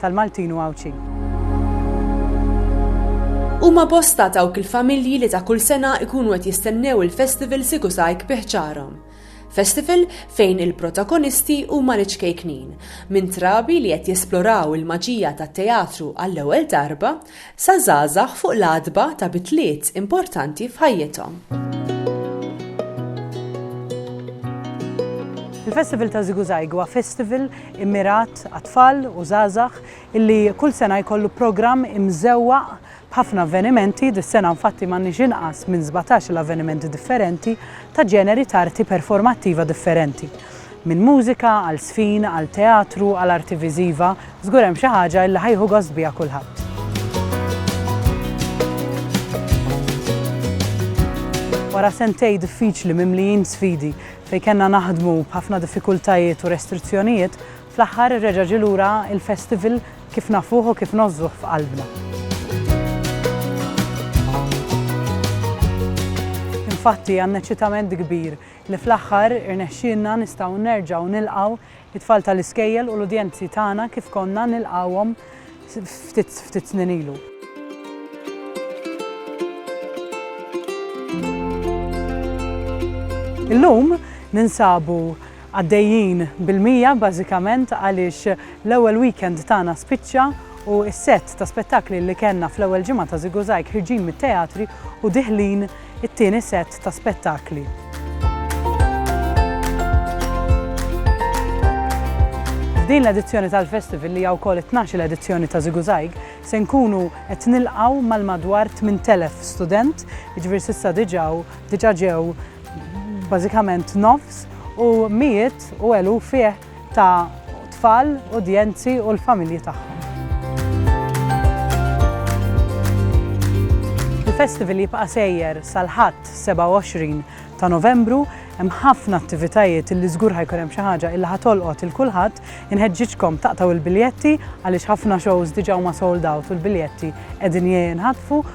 tal-Maltin u Għawdxin. Huma bosta dawk il-familji li ta' kull sena jkunu qed jistennew il-Festival Sikusajk bi ħġarhom. Festival fejn il-protagonisti huma l-iċkejknin, minn trabi li qed jesploraw il-maġija tat-teatru għall-ewwel darba, sa żgħażagħ fuq l-għatba ta' bidliet importanti f'ħajjithom. Il-Festival ta' Ziguzajg huwa festival immirat għat-tfal u żgħażagħ illi kull sena jkollu programm imżewwaq b'ħafna avvenimenti, dis-sena infatti m'għandniex inqas minn sbatax-il avvenimenti differenti ta' ġeneri ta' arti performattiva differenti, minn mużika għal żfin għal teatru għal arti viżiva, Żgur hemm xi ħaġa illi ħa jieħu gost biha kulħadd. Wara sentejn diffiċli mimlijin sfidi fejn kellna naħdmu b'ħafna diffikultajiet u restrizzjonijiet, fl-aħħar reġa' ġie lura l-festival kif nafuh u kif ngħożżuh f'qalbna. Infatti għandna ċitament kbir li fl-aħħar irnexxielna nistgħu nerġgħu nilqgħu It-tfal tal-iskejjel u l-udjenzi tagħna kif konna nilqgħuhom ftit snin ilu. Illum ninsabu għaddejjin bil-mija bażikament għaliex l-ewwel weekend tagħna spiċċa u s-sett ta' spettakli li kellna fl-ewwel ġimgħa ta' Żiguzajg ħirġin mit-teatri u diħlin it-tieni sett ta' spettakli. F'din l-edizzjoni tal-Festival, li hija wkoll it-tnax-il edizzjoni ta' Ziguzaig, se nkunu qed nilqgħu mal-madwar 8,000 student, jiġifieri s'issa diġà diġà ġew bażikament nofs u mijiet u eluf fih ta' tfal, udjenzi u l-familji tagħhom. Il-festival jibqa' sejjer sal-Ħadd 27 ta' Novembru. Hemm ħafna attivitajiet illi żgur ħa jkun hemm xi ħaġa illi ħa tolqot 'il kulħadd. Inħeġġiġkom taqtgħu l-biljetti għaliex ħafna shows diġà huma sold out u l-biljetti qegħdin jinħatfu.